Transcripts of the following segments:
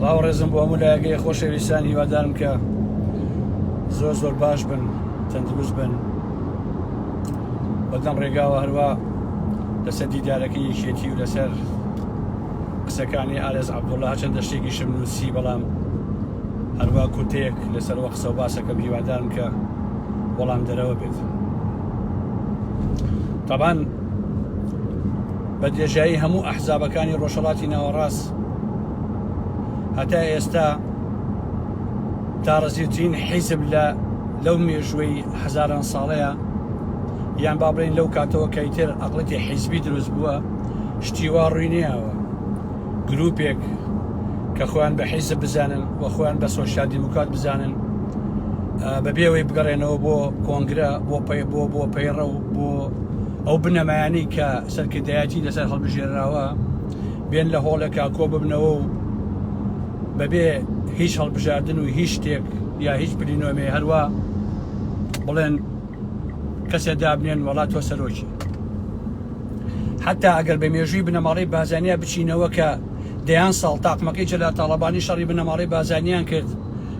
سڵاو ڕێزم بۆ هەموو لایەگەی خۆشەویستان هیوادارم کە زۆر زۆر باش بن تەندروست بن بەدەم ڕێگاوە هەروە لەسەر دیدارەکەی یەکێتی و لەسەر قسەکانی ئارێز عبدوڵا چەندە شتێکی شم نووسی بەڵام هەروە کوتێک لەسەر وە قسە و باسەکەم هیوادارم کە وەڵام دەرەوە بێت تابان بە درێژایی هەموو ئەحزابەکانی ڕۆژهەڵاتی ناوەڕاست هەتا ئێستا تاڕزیوترین حیزب لە لەو مێژووی هەزاران ساڵەیە یان با بڵین لەو کاتەوە کەیتر ئەقلەتی حیزبی دروست بووە شتیوا ڕوینیاوە گروپێک کە خۆیان بە حیزب بزانن و خۆیان بە سۆشال دیموکات بزانن بەبێەوەی بگەڕێنەوە بۆ کۆنگرە بۆ پەی بۆ بۆ پەیڕە و بۆ ئەو بنەمایانەی کە سەرکردایەتی لەسەر هەڵبژێرراوە بێن لە هۆڵێکا کۆ ببنەوە و بەبێ هیچ هەڵبژاردن و هیچ شتێک یا هیچ پلینۆمێ هەروە بڵێن کەسێ دابنێن وڵات تۆ سەرۆکی حتا ئەگەر بە مێژووی بنەماڵی بازانیا بچینەوە کە دەیان ساڵ تاقمەکەی جەلا تاڵەبانی شەڕی بنەماڵی بازانیان کرد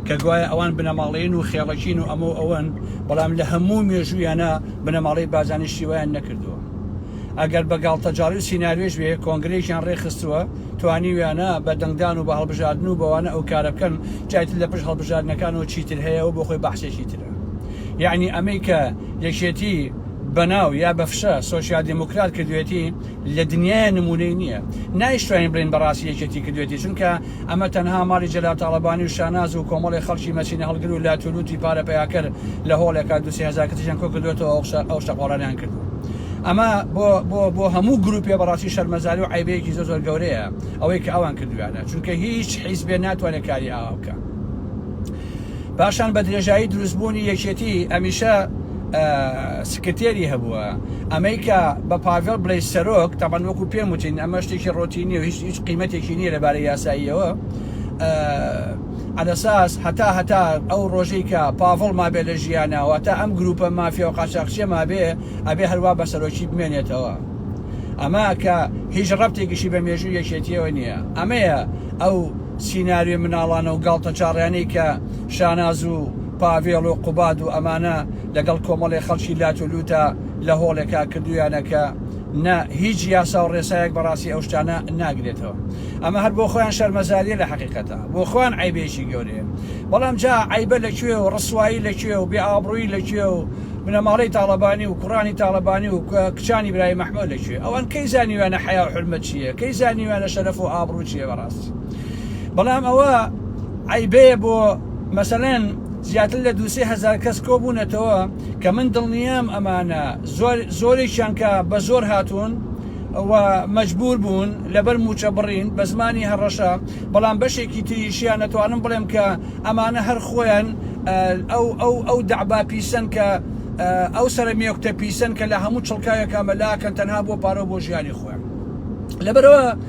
کە گوایە ئەوان بنەماڵەین و خێڵەکین و ئەمە ئەوەن بەڵام لە هەموو مێژوویانە بنەماڵەی بارزانی شتی وایان نەکردووە ئەگەر بە گاڵتەجاڕی و سیناریۆش بێ کۆنگرەیەکیان ڕێکخستووە توانیویانە بە دەنگدان و بە هەڵبژاردن و بەوانە ئەو کارە بکەن جای تر لە پشت هەڵبژاردنەکانەوە چیتر هەیە ئەوە بۆ خۆی بەحسێکی ترە یەعنی ئەمەی کە یەکێتی بەناو یا بە فشە سۆسیال دیموکرات کردوێتی لە دنیای نمونەی نییە نایشتوانین بڵێین بەڕاستی یەکێتی کردوێتی چونکە ئەمە تەنها ماڵی جەلال تاڵەبانی و شاناز و کۆمەڵێ خەڵکی مەچینە هەڵگر و لات و لوتی پارە پەیاکەر لە هۆڵێکا دوو سێ هەزار کەسیشیان کۆ کردۆتەوە ئەو شەقۆڵانەیان کردووە ئەمە بۆ بۆ بۆ هەموو گروپێ بەڕاستی شەرمەزاری و عەیبەیەکی زۆر زۆر گەورەیە ئەوەی کە ئەوان کردویانە چونکە هیچ حیزبێ ناتوانێت کاری ئاوا بکا. پاشان بە درێژایی دروستبوونی یەکێتی ئەمیشە سکرتێری هەبووە ئەمەی کە بە پاڤێڵ بڵێ سەرۆک تاوان وەکو پێم وتین ئەمە شتێکی ڕۆتینی و هیچ هیچ قیمەتێکی نییە لەبارەی یاساییەوە ئەلەساس هەتا هەتا ئەو ڕۆژەی کە پاڤڵ مابێ لە ژیانەوە تا ئەم گروپە مافیا و قاچاقچێ مابێ ئەبێ هەروە بە سەرۆکی بمێنێتەوە ئەمە کە هیچ ڕەبتێکیشی بە مێژوو یەکێتیەوە نییە ئەمەیە ئەو سیناریۆی مناڵانە و گاڵتەجاڕیانەی کە شاناز و پاڤێڵ و قوباد و ئەمانە لەگەڵ کۆمەڵێ خەڵکی لات و لووتا لە هۆڵێکا کردوویانە کە نە هیچ یاسا و ڕێسایەک بە ڕاستی ئەو شتانە ناگرێتەوە ئەمە هەر بۆ خۆیان شەرمەزاریە لە حەقیقەتا بۆ خۆیان عەیبێکی گەورەیە بەڵام جا عەیبە لە کوێ و ڕسوایی لە کوێ و بێ ئابڕوویی لە کوێ و بنەماڵەی تاڵەبانی و کوڕانی تاڵەبانی و کچانی برای مەحمۆ لە کوێ ئەوان کەی زانیویانە حەیا و حورمەت چیە کەی زانیویانە شەرەف و ئابڕوو چیە بە ڕاستی. بکات بەڵام ئەوە عیبەیە بۆ مەسەلەن زیاتر لە دوسێ هزار کەس کۆبوونەتەوە کە من دڵنیام ئەمانە زۆرێکیان کە بە زۆر هاتوون و مەجبور بوون لەبەر موچە بڕین بە زمانی هەڕەشە بەڵام بەشێکی تریشیان نەتوانم بڵێم کە ئەمانە هەر خۆیان ئەو ئەو ئەو دەعبا پیسن کە ئەو سرە مێکتە پیسن کە لە هەموو چڵکاوێکە مەلاکەن تەنها بۆ پارە بۆ ژیانی خۆیان لەبەرەوە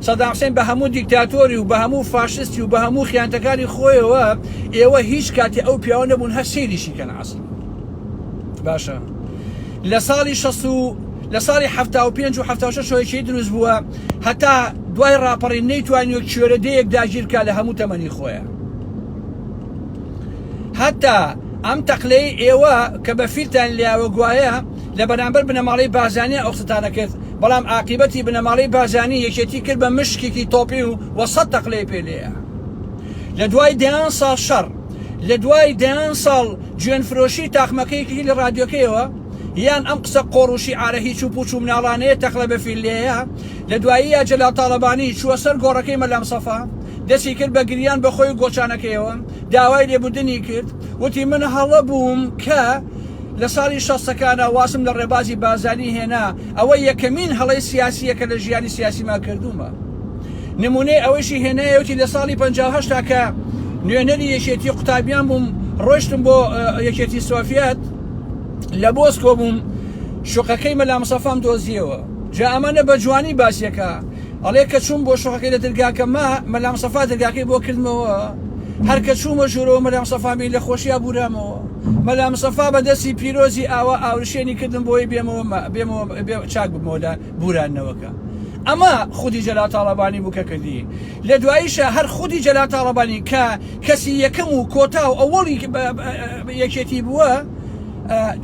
سەدام حسێن بە هەموو دیکتاتۆری و بە هەموو فاشستی و بە هەموو خیانتەکاری خۆیەوە ئێوە هیچ کاتی ئەو پیاوە نەبوون هەر سەیریشی کەن عەسڵ باشە لە ساڵی شەست و لە ساڵی حەفتا و پێنج و حەفتا و شەش هۆیەکی دروست بووە هەتا دوای ڕاپەڕین نەیتوانی و کوێرە دەیەک داگیر کا لە هەموو تەمەنی خۆیە هەتا ئەم تەقلەی ئێوە کە بە فیلتان لیاوە گوایە لە بەرامبەر بنەماڵەی بارزانیان ئەو قسەتانە کرد، بەڵام ئاقیبەتی بنەماڵەی بارزانی یەکێتی کرد بە مشکێکی تۆپی و وە سەد تەقلەی پێ لێیا. لە دوای دەیان ساڵ شەڕ، لە دوای دەیان ساڵ جوێن فرۆشی تاقمەکە یەکێتی لە ڕادیۆکەیەوە، یان ئەم قسە قۆڕ و شیعارە هیچ و پوچ و مناڵانەیە تەقلە بە فیل لێیا، لە دواییا جەلال تاڵەبانی چووە سەر گۆڕەکەی مەلا مصەفا، دەستی کرد بە گریان بە خۆی و گۆچانەکەیەوە، داوای لێبوردنی کرد، وتی من هەڵە بووم کە، لە ساڵی شەستەکانا وازم لە ڕێبازی بارزانی هێنا، ئەوە یەکەمین هەڵەی سیاسییە کە لە ژیانی سیاسیما کردوومە. نموونەی ئەوەیشی هێنایەوە چی لە ساڵی پەنجا و هەشت کە نوێنەری یەکێتی قوتابیان بووم، ڕۆیشتم بۆ یەکێتی سۆڤیەت، لە مۆسکۆ بووم، شوقەکەی مەلا مستەفام دۆزییەوە. جا ئەمانە بە جوانی باسییەکە. ئەڵێ کە چووم بۆ شوقەکەی لە درگاکە ما مەلام سەفا درگاکەی بۆ کردمەوە هەر کە چوومە ژوورەوە مەلام سەفامی لە خۆشیا بورامەوە مەلام سەفا بە دەستی پیرۆزی ئاوا ئاورشێنی کردم بۆی بێمەوە بێمەوە چاک ببمەوە لە بورانەوەکە ئەمە خودی جەلا تاڵەبانی بوو کە کردی لە دواییشە هەر خودی جەلا تاڵەبانی کە کەسی یەکەم و کۆتا و ئەوەڵی یەکێتی بووە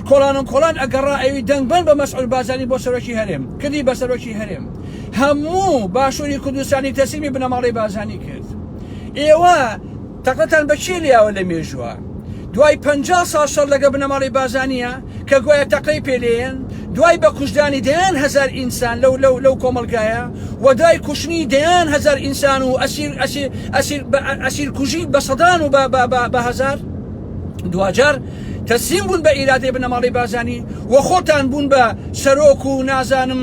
کۆڵانم کۆڵان ئەگەڕا ئەوی دەنگبەن بە مەسعود بازانی بۆ سەرۆکی هەرێم کردی بە سەرۆکی هەرێم هەموو باشووری کوردستانی تەسلیمی بنەماڵەی بارزانی کرد ئێوە تەقەتان بە کێ لیاوە لە مێژووە دوای پ سا شەر لەگە بنەماڵی بازانە کە گوایە تەقەی پێلێن دوای بە کوشتدانی دەیان هزار ئینسان لەو لەو لەو کۆمەلگایە و دوای کوشتنی دەیان هزار ئینسان و ئەسیر ئەسیر ئەسیر ئەسیر کوژی بە سەدان و بە هزار دواجار تەسلیم بوون بە ئیرادەی بنەماڵی بازانی و خۆتان بوون بە سەرۆک و نازانم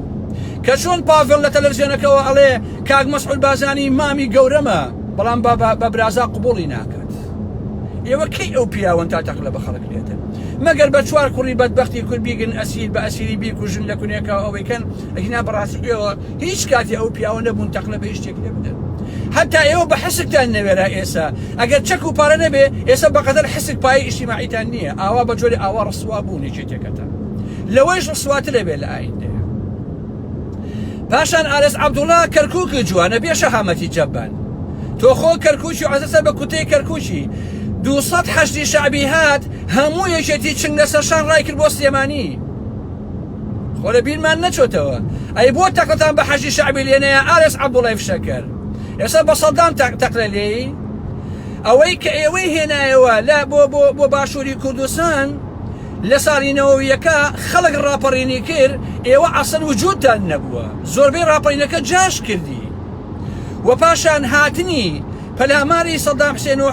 کە چۆن پاڤێڵ لە تەلەفزیۆنەکەوە ئەڵێ کاک مەسعود بازانی مامی گەورەمە بەڵام بە برازا قوبوڵی ناکات ئێوە کەی ئەو پیاوەن تا تەقلە بە خەڵک لێتن مەگەر بە چوار کوڕی بەدبختی کورد بیگن ئەسیر بە ئەسیری بیکوژن لە کونێکە ئەوەیکەن ئەهینا بەڕاستی ئێوە هیچ کاتی ئەو پیاوە نەبوون تەقلە بە هیچ شتێک لێ بدەن حتا ئێوە بە حسکتان نەوێرا ئێسا ئەگەر چەک و پارە نەبێ ئێستا بەقەدەر حسک پای ئیشتیماعیتان نییە ئاوا بە جۆری ئاوا ڕسوا بوو نێچێتێکەتە لەوەیش ڕسواتر ئەبێت لە ئایندەیا پاشان ئارەس عەبدوڵا کەرکوکی جوانە بێ شەهامەتی جەبان تۆ خۆ کەرکوکی عەزەسە بە کوتەی کەرکوکی دووسەد حەشدی شەعبی هات هەموو یەکێتی چنگ لە سەرشان ڕای کرد بۆ سلێمانی خۆ لە بیرمان نەچۆتەوە ئەی بۆ تەقەتان بە حەشدی شەعبی لێنەیە ئارەس عەبدوڵای فشەکەر ئێستا بە سەدام تەقلە لێی ئەوەی کە ئێوەی هێنایەوە لە بۆ بۆ بۆ باشووری کوردستان لە ساڵی نەوەویەکە خەڵک ڕاپەڕینی کرد ئێوە عەسەن وجودتان نەبووە زۆربەی ڕاپەینەکە جاش کردی وە پاشان هاتنی پەلاماری سەدام حسێن و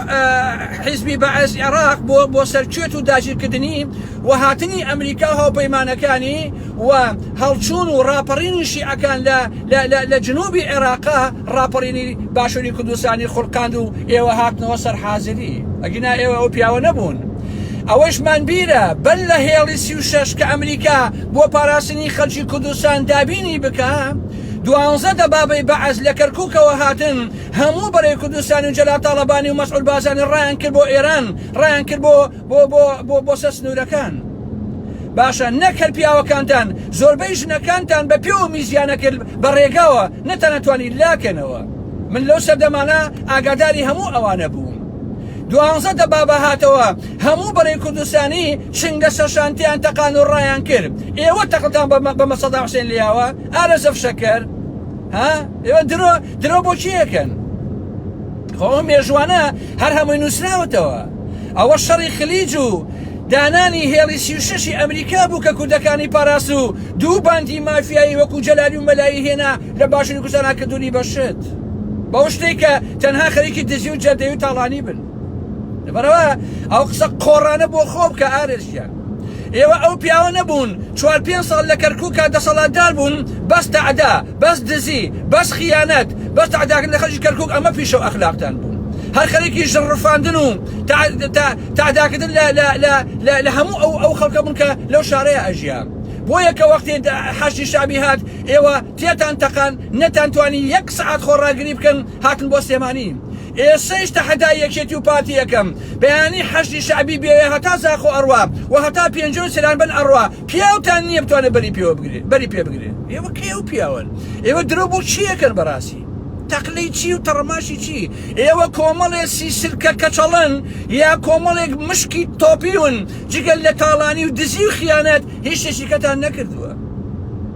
حیزبی بەعس عێراق بۆ بۆ سەر کوێت و داگیرکردنی وە هاتنی ئەمریکا و هاوپەیمانەکانی وە هەڵچوون و ڕاپەڕینی شیعەکان لە لە لە لە جنوبی عێراقا ڕاپەڕینی باشوری کوردستانی خوڵقاند و ئێوە هاتنەوە سەر حازری ئەگینا ئێوە ئەو پیاوە نەبوون ئەوەشمان بیرە بەر لە هێڵی سی و شەش کە ئەمریکا بۆ پاراستنی خەلکی کوردستان دابینی بکا دوانزە دەبابەی بەعس لە کەرکوکەوە هاتن هەموو بەرەی کوردستان و جەلال تاڵەبانی و مەسعود بازانی ڕایان کرد بۆ ئێران ڕایان کرد بۆ بۆ بۆ بۆ بۆ سەر سنوورەکان باشە نەک هەر پیاوەکانتان زۆربەی ژنەکانتان بە پێ و میزیانە کرد بە ڕێگاوە نەتانەتوانی لاکەنەوە من لەو سەردەمانە ئاگاداری هەموو ئەوانە بووم دوانزە دەبابە هاتەوە هەموو بەرەی کوردستانی شنگە سەرشانتیان تەقان و ڕایان کرد ئێوە تەقتان بە مەسەدا حسێن لیاوە ئارە زەفشەکەر ها ئێوە درۆ درۆ بۆ چیەکەن خۆ مێژوانە هەر هەمووی نووسراوەتەوە ئەوە شەڕی خلیج و دانانی هێڵی سیشەشی ئەمریکا بوو کە کوردەکانی پاراست و دوو باندی مافیایی وەکو جەلالی و مەلایی هێنا لە باشووری کوردستانا کردوونی بەشت بەو شتێک کە تەنها خەریکی دزی و جەردەی و تاڵانی بن لەبەرەوە ئەو قسە قۆڕانە بۆ خۆ بکە ئارێز گیان ئێوە ئەو پیاوە نەبوون چوار پێنج ساڵ لە کەرکووکا دەسەڵاتدار بوون بەس تەعدا بەس دزی بەس خیانەت بەس تەعداکرد لە خەرجی کەرکووک ئەمە پیشە و ئەخلاقتان بوو هەر خەرێکی ژڕفاندن و تەعداکردن لە هەموو ئەو ئەو خەڵکە بوون کە لەو شارەیە ئەژیا بۆیە کە وەختی حەشدی شەعبی هات ئێوە تێتان تەقان نەتان توانی یەک سەعات خۆڕاگری بکەن هاتن بۆ سلێمانی ئێسەیش تەحەدای یەکێتی و پارتی ئەکەم بەیانی حەشدی شەعبی بێێ هەتا زاخۆ ئەڕوا و هەتا پێنجۆ و سرانبەن ئەڕوا پیاوتان نیە بتوانێ بەری پێوە بگرێ بەری پێ بگرێ ئێوە کەی ئەو پیاوەن ئێوە درۆ بۆ چی ئەکەن بەراسی تەقلەی چی و تەڕەماشی چی ئێوە کۆمەڵێ سیسلکە کەچەڵن یا کۆمەڵێک مشکی تۆپیون جگە لە تاڵانی و دزی و خیانەت هیچ شتێکی کەتان نەکردوە.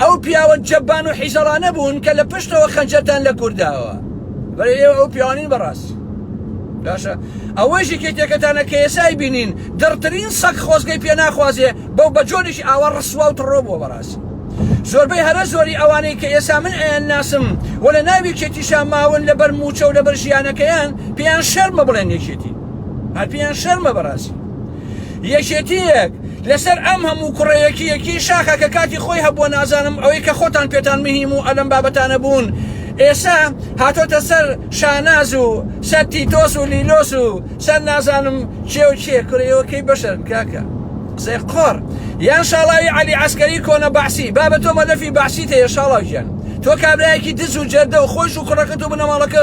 ئەو پیاوە جەبان و حیژەڵانە بوون کە لە پشتەوە خەنجەرتان لە کورد داوە بەرە ئێوە ئەو پیاوانین بەڕاستی باشە ئەوەی ژێکی تێکەتانە کە ئێسای بینین دڕترین سەگ خۆزگەی پێ ناخوازێ بەو بە جۆرێکی ئاوا ڕسوا و تڕۆ بووە بەڕاست زۆربەی هەرە زۆری ئەوانەی کە ئێسا من ئەیان ناسم و لە ناوی کێتیشا ماون لەبەر موچە و لەبەر ژیانەکەیان پێیان شەرمە بڵێن یەکێتی هەر پێیان شەرمە بەڕاستی یەکێتیەک لەسەر ئەم هەموو کوڕە یەکیەکی شاخە کە کاتی خۆی هەبووە نازانم ئەوەی کە خۆتان پێتان مهیم و ئەلەم بابەتانە بوون ئێسا هاتۆتە سەر شاناز و سەر تیتۆس و لیلۆس و سەر نازانم چێ و چێ کورەوە کەی بەشەرن کاکە قسەی قۆڕ یان شاڵاوی عەلی عسکەری کۆنە بەعسی بابە تۆ مەلەفی بەعسیت هەیە شاڵاو گیان تۆ کابرایەکی دز و جەردە و خۆش و کوڕەکەت و بنەماڵەکە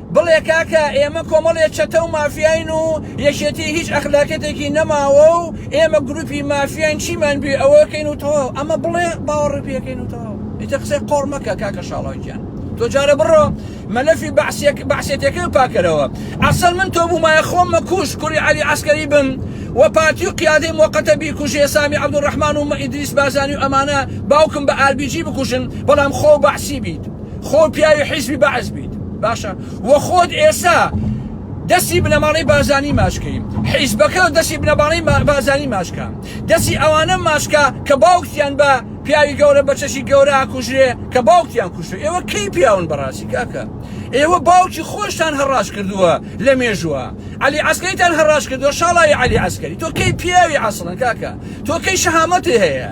بڵێ کاکە ئێمە کۆمەڵێ چەتە و مافیاین و یەکێتی هیچ ئەخلاقیەتێکی نەماوە و ئێمە گروپی مافیاین چیمان بوێ ئەوەکەین و تەواو ئەمە بڵێ باوەڕی پێکەین و تەواو ئیتر قسەی قۆڕ مەکە کاکە شاڵاو گیان تۆ جارە بڕۆ مەلەفی بەعسیەک بەعسێتەکەی و پاکەرەوە ئەسڵ من تۆ بوومایە خۆم مەکوژ کوڕی عەلی عەسکەری بم و پارتی و قیادەی مۆقەتە بیکوژێ سامی عەبدولڕەحمان و ئیدریس بازانی و ئەمانە باوکم بە ئاربیجی بکوژن بەڵام خۆو بەعسی بیت خۆ پیاوی حیزبی بەعس بیت باشە وە خۆت ئێسا دەستی بنەماڵەی بازانی ماشکەی حیزبەکە دەستی بنەماڵەی بازانی ماشکە دەستی ئەوانە ماشکە کە باوکیان بە پیاوی گەورە بە چەشی گەورە ئاکوژرێ کە باوکیان کوشتو ئێوە کەی پیاون بەڕاستی کاکە ئێوە باوکی خۆشتان هەڕاش کردووە لە مێژووە علی عسکەیتان هەڕاش کردووە شاڵی علی عسکەری تۆ کەی پیاوی عسڵن کاکە تۆ کەی شەهامەتی هەیە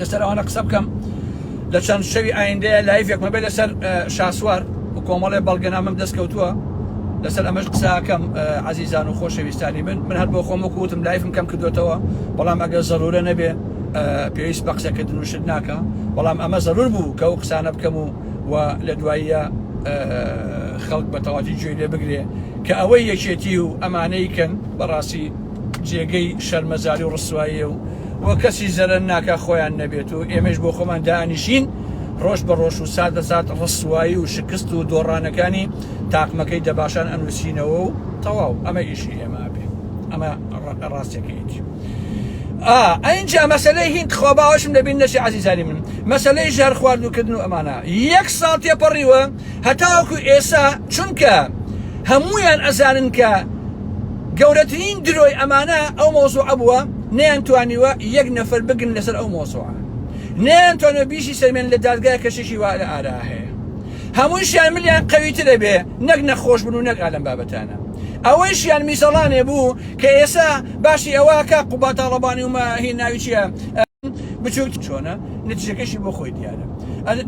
لەسەر ئەوانە قسە بکەم لە چەند شەوی ئایندەیە لایفێکمە بێ لەسەر شاسوار و کۆمەڵێ بەڵگەنامەم دەست کەوتووە لەسەر ئەمەش قساکەم عزیزان و خۆشەویستانی من من هەر بۆ خۆم وکوتم لایفم کەم کردوێتەوە بەڵام ئەگەر زەرورە نەبێ پێویست بە قسەکردن و شت ناکە بەڵام ئەمە زەرور بوو کە ئەو قسانە بکەم و و لە دواییە خەڵک بە تەواتی گوێی لێ بگرێ کە ئەوەی یەکێتی و ئەمانەی کەن بەڕاستی جێگەی شەرمەزاری و ڕسواییە و وە کەسیش زەرەر ناکا خۆیان نەبێت و ئێمەیش بۆ خۆمان دائەنیشین ڕۆژ بە ڕۆژ و سات بە سات ڕسوایی و شکست و دۆڕانەکانی تاقمەکەی دەباشان ئەنوسینەوە و تەواو ئەمە ئیشی ئێمە ئەبێ ئەمە ڕاستەکەیەتی ئا ئەینجا مەسەلەی هیند خوا باوەشم لەبیر نەچێ عەزیزانی من مەسەلەی ژەهر خواردوکردن و ئەمانە یەک ساڵ تێپەڕیوە هەتاوەکو ئێسا چونکە هەموویان ئەزانن کە گەورەترین درۆی ئەمانە ئەو مۆزوعە بووە نەیان توانیوە یەک نەفەر بگن لەسەر ئەو مۆزوعە نەیان توانە بیشی سەلمێن لە دادگای کەشێکی وا لە ئارا هەیە هەمووشیان ملیان قەویترە بێ نەک نەخۆش بن و نەک ئالم بابەتانە ئەوەیشیان میزەڵانێ بوو کە ئێسا باسی ئەوەکە قوباتاڵەبانی ومە هی ناوی چیە بچوک چۆنە نتیجەکەشی بۆ خۆی دیارە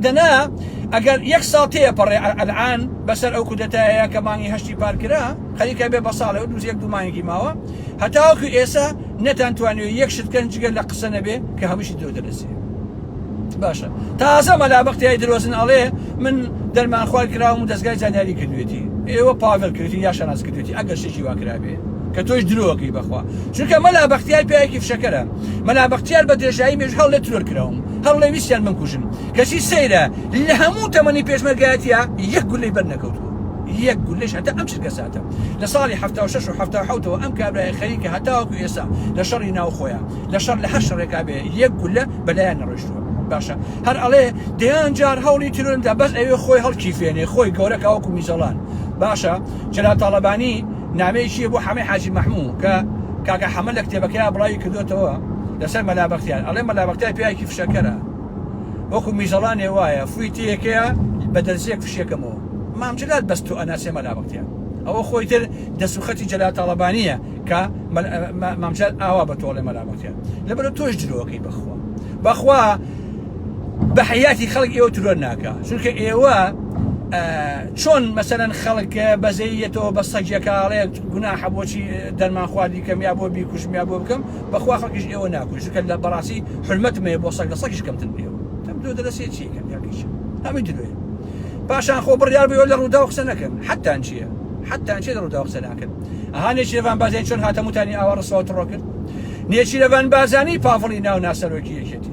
دەنا ئەگەر یەک ساڵ تێە پەڕێ ئەلعان بەسەر ئەو کودەتایە کە مانگی هەشتی پارکرا خەریکە بێ بە ساڵێ دوز یەک دومانێکی ماوە هەتاوەکو ئێسا نەتان توانێت یەک شتکەن جگە لە قسە نەبێ کە هەمووشی درۆ دەرەسێ باشە تازە مەلابختیای درۆزن ئەڵێ من دەرمان خوار کراوم و دەستگای زانیاری کردوێتی ئێوە پاڤل کردی یا شەناز کردێتی ئەگەر شێکی واکرابێ کە تۆش درۆەکەی بەخوا چونکە مەلا بەختیار پیاێکی فشەکەرە مەلا بەختیار بە درێژایی مێژ هەڵێ ترۆر کراوم هەڵێ ویستیان من کوژن کەچی سەیرە لە هەموو تەمەنی پێشمەرگایەتە یەک گولەی بەر نەکەوتووە یەک گولەش هەتا ئەم چرکە ساتە لە ساڵی 76 و 1970ەوە ئەم کابرای خەریکە هەتاوەکو ئێستا لە شەڕی ناو خۆیان لە شەڕ لە هەر شەڕێکا بێ یەک گولە بەلایان نەڕۆشتووە باشە هەر ئەڵێ دەیان جار هەوڵی ترۆرمدا بەس ئەوێ خۆی هەڵکی فێنێ خۆی گەورە کاوەکو میزەڵان باشە جەلال تاڵەبانی نامەیەکی بۆ حەمەی حاجی مەحموو کە کاکە حەمە لە کتێبەکەیا بڵاوی کردۆتەوە لەسەر مەلا بەختیار ئەڵێ مەلا بەختیار پیاوێکی فشەکەرە وەکو میزەڵانێ وایە فوی تێیەکەیە بە دەرزیەک فشێکەمەوە مام جەلال بەس تۆ ئەناسێ مەلا بەختیار ئەوە خۆی تر دەست و خەتی جەلال تاڵەبانیە کە مام جەلال ئاوا بە تۆڵێ مەلا بەختیار لەبەرە تۆش درۆکەی بەخوا بەخوا بە حیاتی خەڵک ئێوە ترۆر ناکە چونکە ئێوە چۆن مەسەلەن خەڵک بەزەیی یەتەوە بە سەگیەکە ئەڵێ گوناحە بۆچی دەرمان خواردی کەم یا بۆ بیکوژم یا بۆ بکەم بەخوا خەڵکیش ئێوە ناکوژ چونکە لە بەڕاستی حورمەتم هەیە بۆ سەگ لە سەگیش کەمترم پێوە تم درۆ دەلەسێ چی کەم یا کیش هەمی درۆیە پاشان خۆ بڕیار بووە لە ڕووداو قسە نەکەن حتان چییە حتان چێ لە ڕووداو قسە ناکەن ئەها نێچیرەڤان بازێن چۆن هاتەموتانی ئاوا ڕسوا و تڕۆ کرد نێچیرەڤان بازانی پاڤڵی ناو ناسەرۆکی یەکێتی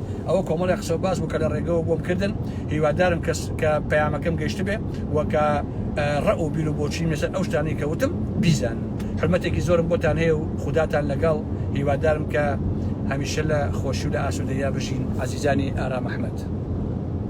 ئەوە کۆمەڵی قسەو باس بوو کە لە ڕێگەوە بۆم کردن هیوادارم کەس کە پەیامەکەم گەشتبێ و کە ڕە و بیرو بۆچی مێسەر ئەو شتانی کەوتم بیزان حرمەتێکی زۆرم بۆتان هەیە و خوداتان لەگەڵ هیوادارم کە هەمیشە لە خۆشی و لە ئاسوودەیا بژین ئازیزانی ئارام ئەحمەد.